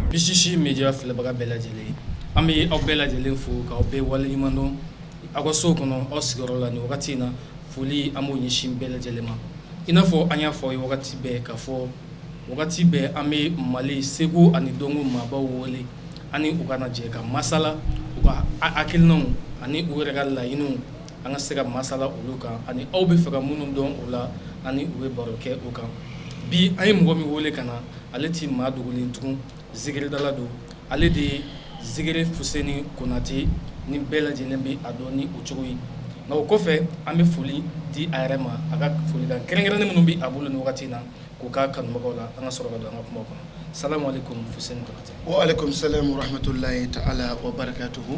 Bilisisi mi filɛbaga bɛɛ lajɛlen an bɛ aw bɛɛ lajɛlen fo k'aw bɛɛ wale ɲuman dɔn aw ka sow kɔnɔ aw sigiyɔrɔ la ni wagati in na foli an b'o ɲɛsin bɛɛ lajɛlen ma i n'a fɔ an y'a fɔ ye wagati bɛɛ ka fɔ wagati bɛɛ an bɛ mali seko ani dɔnko maabaw wele an ni u ka na jɛ ka masala u ka hakilinaw ani u yɛrɛ ka laɲiniw an ka se ka masala olu kan ani aw b'a fɛ ka minnu dɔn u la ani u bɛ baro kɛ u kan bi an ye mɔgɔ min wele ka na ale tɛ maa dogolen tugun zikiridala don ale de ye zikiri fuseni konate ni bɛɛ lajɛlen bɛ a dɔn ni o cogo ye nka o kɔfɛ an bɛ foli di a yɛrɛ ma a ka foli la kɛrɛnkɛrɛnnen minnu bɛ a bolo ni wagati na k'u ka kanubagaw la an ka sɔrɔ ka don an ka kuma kɔnɔ salamu alekum alekum salamu rahamatulayi taala wa barakatuhu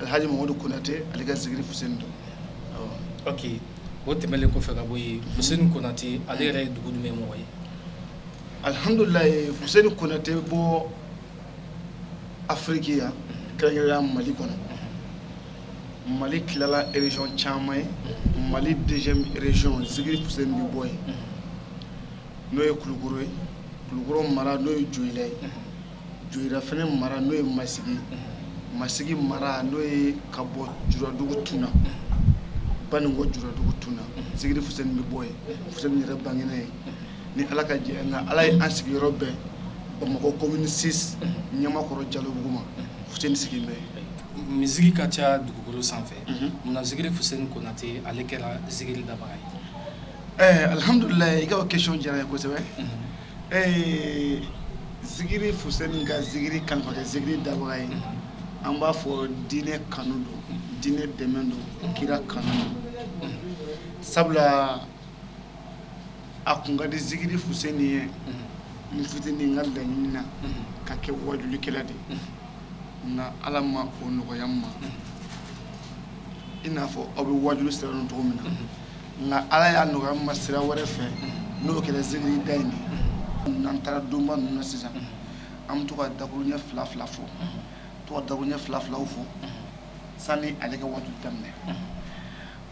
Alihaji Mamadu konate ale ka zikiri fuseni don, ok o tɛmɛnen kɔfɛ ka bɔ yen, fuseni konate ale yɛrɛ ye dugu jumɛn mɔgɔ ye? Alihamidulilayi fuseni konate bɛ bɔ Afiriki yan kɛrɛnkɛrɛnnenya la Mali kɔnɔ, Mali tilala région caman ye, Mali deuxième région zikiri fuseni bɛ bɔ yen n'o ye kulukɔrɔ ye, kulukɔrɔ mara n'o ye joyila ye joyila fana mara n'o ye masigi masigi mara n'o ye ka bɔ juladugu tun na baninko juladugu tun na zikiri fuseni bɛ bɔ yen fuseni yɛrɛ bangera yen ni ala ka jɛ nka ala ye an sigiyɔrɔ bɛn bamakɔ commune six ɲamakɔrɔ jalobugu ma fuseni sigilen bɛ yen miziki ka ca dugukolo sanfɛ munna zikiri fuseni konate ale kɛra zikiri dabaga ye ɛɛ alihamdulilayi i ka question diyara n ye kosɛbɛ ɛɛ zikiri Fuseni ka zikiri kanu f'a kɛ zikiri dabaga ye, an b'a fɔ diinɛ kanu don, diinɛ dɛmɛ don, kira kanu don, sabula a tun ka di zikiri Fuseni ye n fitini n ka laɲini na ka kɛ wajulikɛla de ye, nka Ala ma o nɔgɔya n ma, i n'a fɔ aw bɛ wajuli sira dɔn cogo min na nka ala y'a nɔgɔya n ma sira wɛrɛ fɛ n'o kɛra zikiri da ye n'an taara donba ninnu na sisan an bɛ to ka dakurun ɲɛ fila fila fɔ to ka dakurun ɲɛ fila filaw fɔ sani ale ka waajuli daminɛ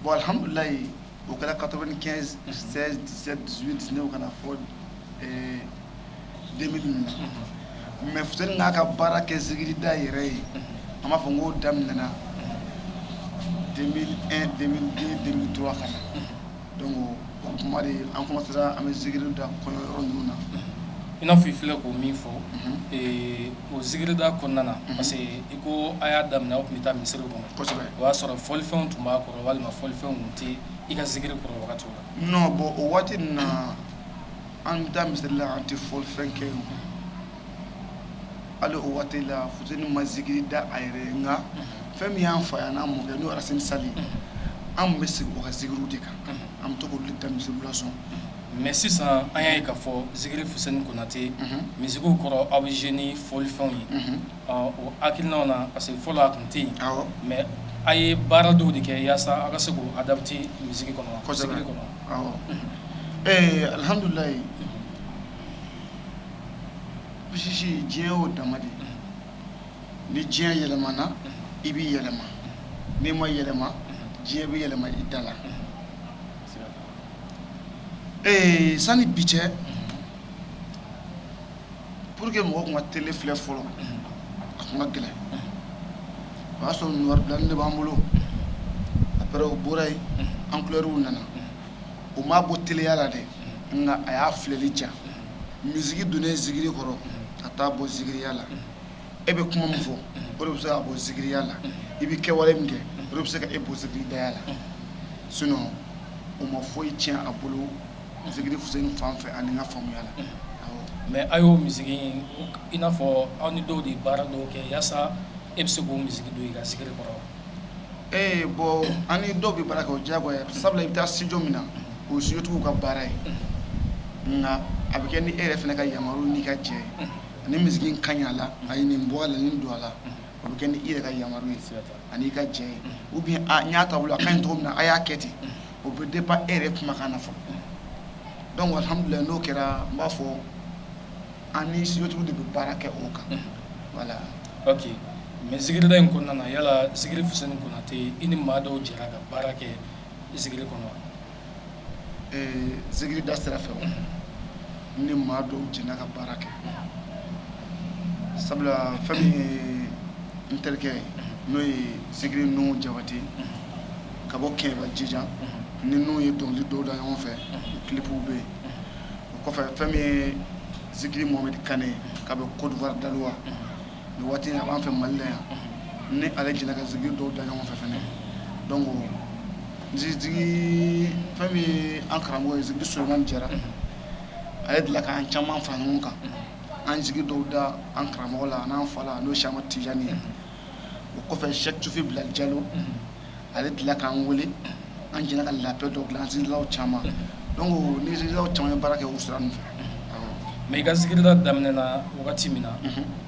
bɔn alihamdulilayi o kɛra quatre-vingt-quinze seize dix-sept dix-huit dix-neuf ka na fo mais f n'a ka baara kɛ zikirida yɛrɛ ye an b'a fɔ n k'o daminɛna 2001 2002 2003 ka na donc o kuma an commencéra an bɛ zikiri da kɔɲɔ yɔrɔ ninnu na i n'a fɔ i filɛ k'o min fɔ o zikirida kɔnɔna na parce que i ko a y'a daminɛ aw tun bɛ taa misiri kɔnɔ o y'a sɔrɔ fɔlifɛnw tun b'a kɔrɔ walima fɔlifɛnw tɛ i ka zikiri kɔrɔ wagati la non bɔn o waati in na an bɛ taa misiri la an tɛ fɔlifɛn kɛ o hali o waati la Fuseni ma zikiri da a yɛrɛ ye nka fɛn min y'an fa ye ani an mɔkɛ n'o ye Racine Sall ye an tun bɛ sigi o ka zikiriw de kan an bɛ to k'olu de da misiriw la bɔn mais sisan an y'a ye k'a fɔ zikiri Fuseni Konate misikiw kɔrɔ aw bɛ jouer ni fɔlifɛnw ye ɔ o hakilinaw na parce que fɔlɔ a tun tɛ yen mais a ye baara dɔw de kɛ yaasa aw ka se k'o adapter misiki kɔnɔ zikiri kɔnɔ awɔ alihamdulayi parce que diɲɛ o dama de ni diɲɛ yɛlɛmana i bɛ yɛlɛma n'i ma yɛlɛma diɲɛ bɛ yɛlɛma i da la ee sani bi cɛ pour que mɔgɔ tun ka télé filɛ fɔlɔ a tun ka gɛlɛn o y'a sɔrɔ noir blanc de b'an bolo après o bɔra yen en couleur nana o m'a bɔ teleya la dɛ nka a y'a filɛli diya misiki donnen zikiri kɔrɔ a t'a bɔ zikiriya la e bɛ kuma min fɔ o de bɛ se k'a bɔ zikiriya la i bɛ kɛwale min kɛ o de bɛ se ka e bɔ zikiridaya la sinon o ma foyi tiɲɛ a bolo Zikiri Fuseni fan fɛ ani ka faamuya la mais aw y'o misiki in i n'a fɔ aw ni dɔw de ye baara dɔw kɛ yaasa e bɛ se k'o misiki don i ka zikiri kɔrɔ ee bɔn an ni dɔw bɛ baara kɛ o ye jɛko ye sabula i bɛ taa studio min na o studiotigiw ka baara ye nka a bɛ kɛ ni e yɛrɛ fana ka yamaruya n'i ka jɛn ani misiki in ka ɲi a la a ye nin bɔ a la nin don a la a bɛ kɛ ni e yɛrɛ ka yamaruya ye an'i ka jɛn ye ou bien a y'a ta a ka ɲi cogo min na a y'a kɛ ten o bɛ dépend e yɛrɛ kumakan na fɔ donc alihamdulayi n'o kɛra n b'a fɔ an ni studiotigiw de bɛ baara kɛ o kan voilà ok mais zikirida in kɔnɔna na yala Zikiri Fuseni Konate i ni maa dɔw jɛra ka baara kɛ zikiri kɔnɔ wa zikirida sira fɛ ne ni maa dɔw jɛnna ka baara kɛ sabula fɛn min ye n terikɛ ye n'o ye Zikiri Nuhun Jabate ka bɔ kɛ jija ni n' ye dɔnkili dɔw da ɲɔgɔn fɛ clipw bɛ yen o kɔfɛ fɛn min ye zikiri mohamed kaba côte d'ivoire daloa ni waati a b'an fɛ mali la yan n ni ale jɛna ka zikiri dɔw da ɲɔgɔn fɛ fana dɔn ko misi fɛn min ye an karamɔgɔ zikiri solomani jara ale tila k'an caman fara ɲɔgɔn kan an ye zikiri dɔw da an karamɔgɔ la ani an fa la n'o si ma tijani ye o kɔfɛ sɛki sufi bilali jalo ale tila k'an weele an jɛna ka labɛn dɔ bila an zikirilaw caman don n ni zikirilaw caman ye baara kɛ o sira in fɛ mɛ i ka zikirida daminɛna wagati min na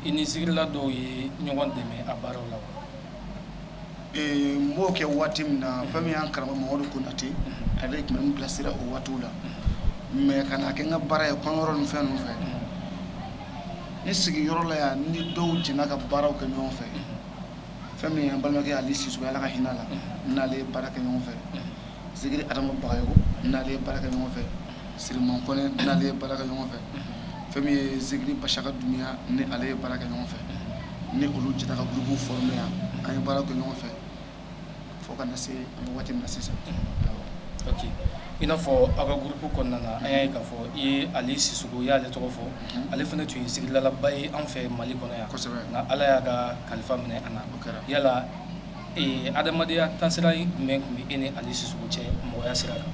i ni zikirila dɔw ye ɲɔgɔn dɛmɛ a baara la n b'o kɛ waati min na fɛn min y' karamɔgɔ madu konatɛ ale tun bɛ n bilasira o waati la mɛ ka kɛ n ka baara ye kɔɲɔ yɔrɔ ni fɛn fɛ ne sigiyɔrɔ la yan n ni dɔw jɛna ka baaraw kɛ ɲɔgɔn fɛ fɛn min ye balimakɛ Ali Sisoko ye Ala ka hinɛ a la, n n'ale ye baara kɛ ɲɔgɔn fɛ, Zikiri Adamu Bagayogo n n'ale ye baara kɛ ɲɔgɔn fɛ, Siriman Kɔnɛ n n'ale ye baara kɛ ɲɔgɔn fɛ, fɛn min ye Zikiri Bashaka Dunbiya n ni ale ye baara kɛ ɲɔgɔn fɛ, n ni olu jɛra ka groupe former yan, an ye baara kɛ ɲɔgɔn fɛ. fo ka na se waati in na sisan i n'a fɔ aw ka groupe kɔnɔna na an y'a ye k'a fɔ i ye ali sisoko i y'ale tɔgɔ fɔ ale fana tun ye zikiridalaba ye an fɛ mali kɔnɔ yan nka ala y'a ka kalifa minɛ a la yala adamadenya ta sira jumɛn tun bɛ e ni ali sisoko cɛ mɔgɔya sira la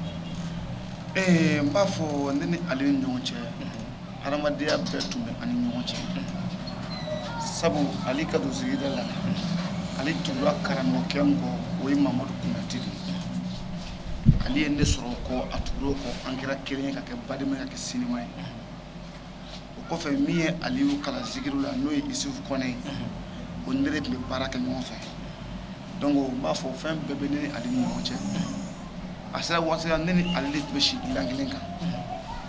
ee n b'a fɔ ne ni ale ni ɲɔgɔn cɛ adamadenya bɛɛ tun bɛ an ni ɲɔgɔn cɛ sabu ali ka don zikirida la ale tugura karamɔgɔkɛ kɔ o ye mamadu konatɛ ale ye ne sɔrɔ kɔ a tugura o kɔ an kɛra kelen ye ka kɛ balima ye ka kɛ sinjima ye o kɔfɛ min ye ali kalan zikiri la n'o ye isufu kɔnɛ ye o ni ne tun bɛ baara kɛ ɲɔgɔn fɛ dɔnku n b'a fɔ fɛn bɛɛ bɛ ne ni ale ni ɲɔgɔn cɛ a sera waati la ne ni ali tun bɛ si dilan kelen kan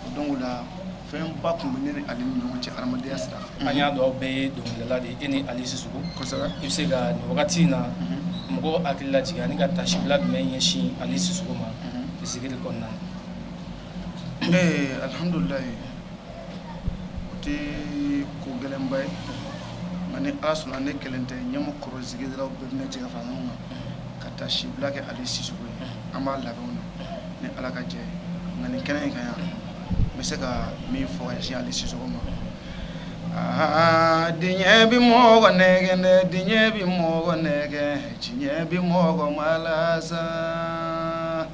o don la fɛn ba tun bɛ ne ni ale ni ɲɔgɔn cɛ adamadenya sira an y'a dɔn bɛɛ ye dɔnkilidala de e ni ali sisoko i bɛ se ka nin wagati in na mɔgɔ hakili lajigin ani ka taasibila jumɛn ɲɛsin ali sisoko ma zikiri kɔnɔna na ee alihamdulila o tɛ ko gɛlɛnba ye nka ni ala sɔnna ne kelen tɛ ɲɛmɔgɔ kɔrɔ zikirilaw bɛna jɛ ka fara n kan ka taasibila kɛ ali sisoko ye an b'a labɛn na ni ala ka jɛ nka ni kɛnɛ in kan yan n bɛ se ka min fɔ ali sisoko ma aa diɲɛ bɛ mɔgɔ nɛgɛn dɛ diɲɛ bɛ mɔgɔ nɛgɛn diɲɛ bɛ mɔgɔ malasa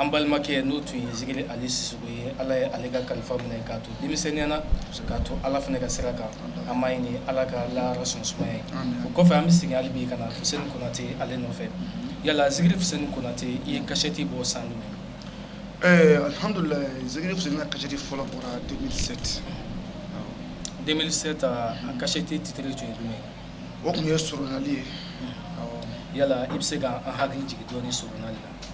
an balimakɛ n'o tun ye zikiri ali sisɔkɔ ye ala ye ale ka kalifa minɛ k'a to denmisɛnninya na k'a to ala fana ka sira kan an b'a ɲini ala k'a la sɔn sumaya ye o kɔfɛ an bɛ sigi ale bi ka na fuseni konatɛ ale nɔfɛ yala zikiri fuseni konatɛ i ye kasɛti bɔ san ɛɛ alihamdulila zikiri fuseni ka kasɛti fɔlɔ bɔra deux mille sept deux mille sept a kasɛti titiri jumɛn jumɛn o tun ye sli ye yala i bɛ se k'an hakili jigin dɔɔnin sla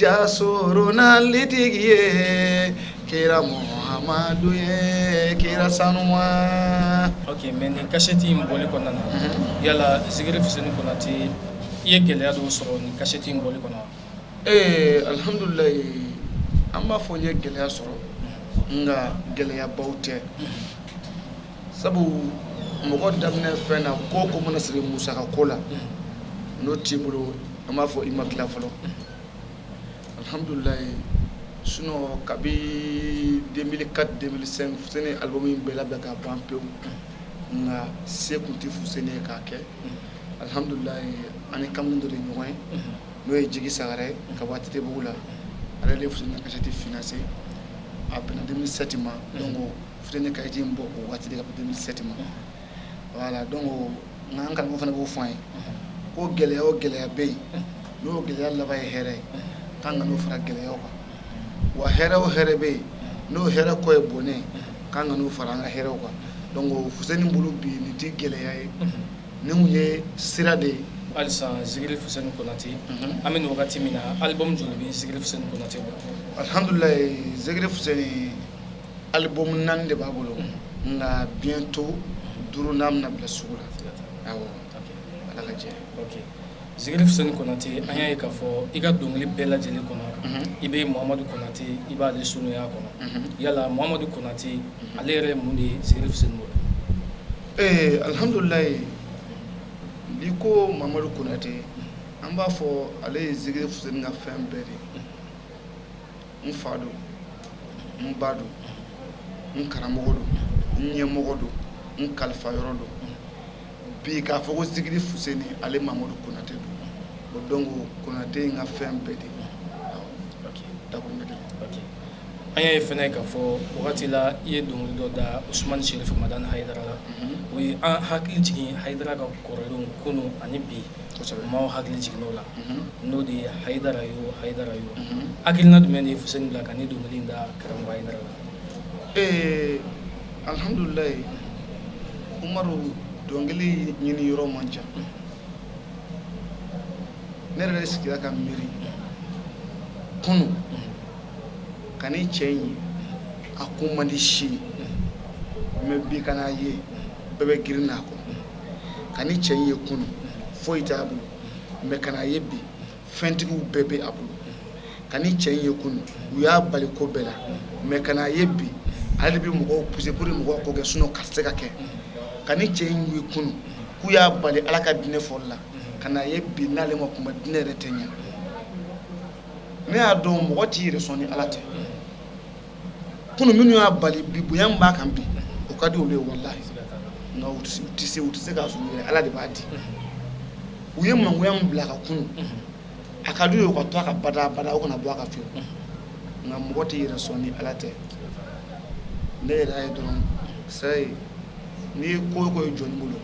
Jasoronalitigi ye kira Muhamadu ye kira sanuman ok mais nin kasɛti in bɔli kɔnɔna na yala Zikiri Fuseni Konate i ye gɛlɛya dɔw sɔrɔ nin kasɛti in bɔli kɔnɔ wa? ee alhamdulilahi an b'a fɔ n ye gɛlɛya sɔrɔ nka gɛlɛyabaw tɛ sabu mɔgɔ daminɛ fɛn na ko o ko mana siri musaka ko la n'o t'i bolo an b'a fɔ i ma tila fɔlɔ alihamdulilayi sinon kabi deux mille quatre deux mille cinq fuseni ye album in bɛɛ labɛn ka ban pewu nka se tun tɛ fuseni ye k'a kɛ alihamdulilayi an ni kamalen dɔ de ɲɔgɔn ye n'o ye jigi sagara ye ka wa titibugu la ale de fuseni kasɛti financé a bɛnna deux mille sept ma donc Fuseni kasɛti in bɔ o waati ka bɛn deux mille sept ma voilà donc an ka fa fana b'o fɔ an ye ko gɛlɛya o gɛlɛya bɛ yen n'o gɛlɛya laban ye hɛrɛ ye k'an kan'o fara gɛlɛya kan wa hɛrɛ o hɛrɛ bɛ yen n'o hɛrɛ kɔ ye bɔnɛ ye k'an kan'o fara an ka hɛrɛ kan donc fuseni bolo bi nin tɛ gɛlɛya ye nin tun ye sira de ye hali sa zikiri fuseni konatɛ an bɛ wagati min na album joli bɛ zikiri fuseni konatɛ alihamdulila zikiri fuseni album naani de b'a bolo nka bientôt duurunan bɛna bila sugu la ala ka jɛ zikiri fuseni konatɛ an y'a ye k'a fɔ i ka dɔnkili bɛɛ lajɛlen kɔnɔ i bɛ mamadu konatɛ i b'ale sunya kɔnɔ yala mamadu konatɛ ale yɛrɛ mun de ye zikiri fuseni bolo ee alihamdulilayi bi ko mamadu konatɛ an b'a fɔ ale ye zikiri fuseni ka fɛn bɛɛ de ye n fa don n ba don n karamɔgɔ don n ɲɛmɔgɔ don n kalifa yɔrɔ don bi k'a fɔ ko zikiri fuseni ale mamadu konatɛ don voilà donc konatɛ ye n ka fɛn bɛɛ de ye an y'a ye fana k'a fɔ wagati la i ye dɔnkili dɔ da usumani serifu madani hayidara la o ye an hakili jigin hayidara ka kɔrɔlen kunun ani bi Maaw hakili jigin o la n'o de ye hayidara yo hayidara yo hakilina jumɛn de ye fuseni bila ka nin dɔnkili da karamɔgɔ hayidara la ee alihamdulilayi umaru dɔnkili ɲinin yɔrɔ man ca ne yɛrɛ de sigira ka miiri kunun ka nin cɛ in ye a ko man di si mɛ bi ka na a ye bɛɛ bɛ girin a kɔ ka ni cɛ ye kunun foyi t'a bolo mɛ ka na a ye bi fɛntigiw bɛɛ bɛ a bolo ka ni cɛ ye kunun u y'a bali ko bɛɛ la mɛ ka na a ye bi ale bɛ mɔgɔw psɛburu ni mɔgɔ ko kɛ sun ka se ka kɛ ka ni cɛ in ye kunun k'u y'a bali ala ka diinɛ fɔli la ka na a ye bi n'ale ma kuma diinɛ yɛrɛ tɛ ɲɛ ne y'a dɔn mɔgɔ t'i yɛrɛ sɔn ni ala tɛ kunun minnu y'a bali bi bonya min b'a kan bi o ka di olu ye walahi nka u tɛ u tɛ se u tɛ se k'a sɔrɔ u yɛrɛ ala de b'a di u ye mangoya min bila a kan kunun a ka d'u ye o ka to a kan bada bada o kana bɔ a kan fiyewu nka mɔgɔ t'i yɛrɛ sɔn ni ala tɛ ne yɛrɛ y'a ye dɔrɔn sayi n'i ye ko o ko ye jɔni bolo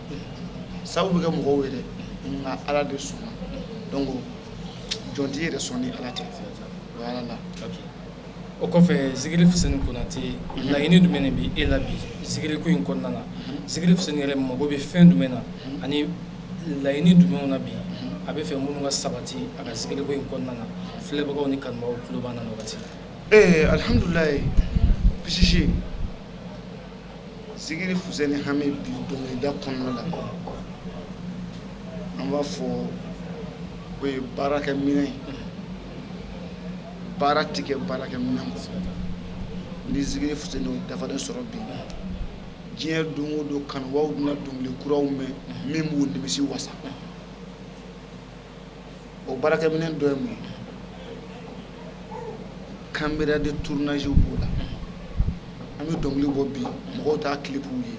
sabu bɛ kɛ mɔgɔw ye dɛ nka ala de sɔnna donc jɔn t'i yɛrɛ sɔn ni ala tɛ o y'ala la o kɔfɛ zikiri fuseni kɔnatɛ laɲini jumɛn bɛ e la bi zikiriko in kɔnɔna na zikiri fuseni yɛrɛ mago bɛ fɛn jumɛn na ani laɲini jumɛnw na bi a b'a fɛ minnu ka sabati a ka zikiriko in kɔnɔna na filɛbagaw ni kanubaw tulo b'an na wagati ee alihamdulilayi pisisi zikiri fuseni hami bi dɔnkilida kɔnɔna la an b'a fɔ o ye baarakɛ minɛn ye baara tɛ kɛ baarakɛ minɛn kɔ ni zikiri fuseni y'o dafalen sɔrɔ bi diɲɛ don o don kanubaw bɛna dɔnkili kuraw mɛn min b'u nimisi wasa o baarakɛ minɛn dɔ ye mun ye caméra de tournage b'o la an bɛ dɔnkili bɔ bi mɔgɔw t'a clip ye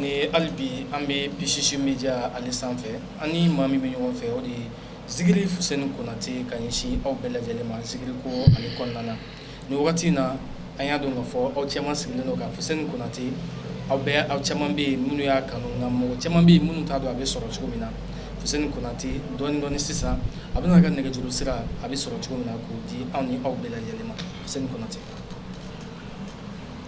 ni hali bi an bɛ pisisi média ani sanfɛ an ni maa min bɛ ɲɔgɔn fɛ o de ye zikiri fuseni kɔnatɛ ka ɲɛsin aw bɛɛ lajɛlen ma zikiriko in kɔnɔna na nin wagati in na an y'a dɔn ka fɔ aw caman sigilen don ka fuseni kɔnatɛ aw bɛ aw caman bɛ yen minnu y'a kanu nka mɔgɔ caman bɛ minnu t'a dɔn a bɛ sɔrɔ cogo min na fuseni kɔnatɛ donc sisan a bɛna a ka nɛgɛjuru sira a bɛ sɔrɔ cogo min na k'o di anw ni aw bɛɛ lajɛlen ma fuseni kɔnatɛ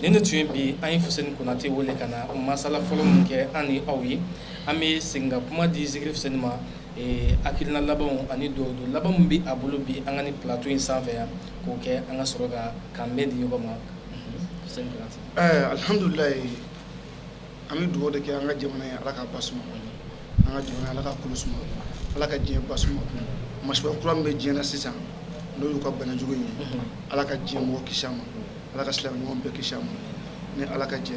Ni ne tun ye bi an ye fuseni konate weele ka na masala fɔlɔ min kɛ an ni aw ye an bɛ segin ka kuma di zikiri fuseni ma hakilina labanw ani don don laban min bɛ a bolo bi an ka nin plateau in sanfɛ yan k'o kɛ an ka sɔrɔ ka kanbɛn di ɲɔgɔn ma alihamdulila an bɛ dugawu de kɛ an ka jamana ye ala ka ba an ka jamana ala ka kɛlɛ suma ala ka diɲɛ ba suma bana kura bɛ diɲɛ na sisan n'o y'u ka banajugu ye ala ka diɲɛ mɔgɔ kisi a ma ala ka silamɛɲɔgɔn bɛɛ kisi a ma ni ala ka jɛ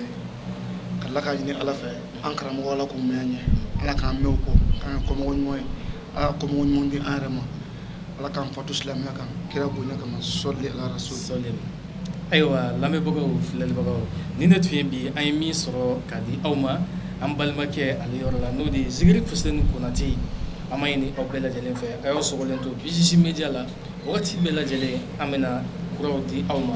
ka ala ka ɲini ala fɛ an karamɔgɔ ala k'u mɛn an ye ala k'an mɛn u kɔ k'an kɛ kɔmɔgɔ ɲuman ye ala ka kɔmɔgɔ ɲuman di an yɛrɛ ma ala k'an fatu silamɛya kan kira bonya kama sɔli ala so sɔli ayiwa lamɛnbagaw filɛlibagaw ni ne tun ye bi an ye min sɔrɔ k'a di aw ma an balimakɛ ale yɔrɔ la n'o de ye zikiri fuseni konate an b'a ɲini aw bɛɛ lajɛlen fɛ a y'aw sɔgɔlen to bisisi media la Waati bɛɛ lajɛlen an bɛ na kuraw di aw ma.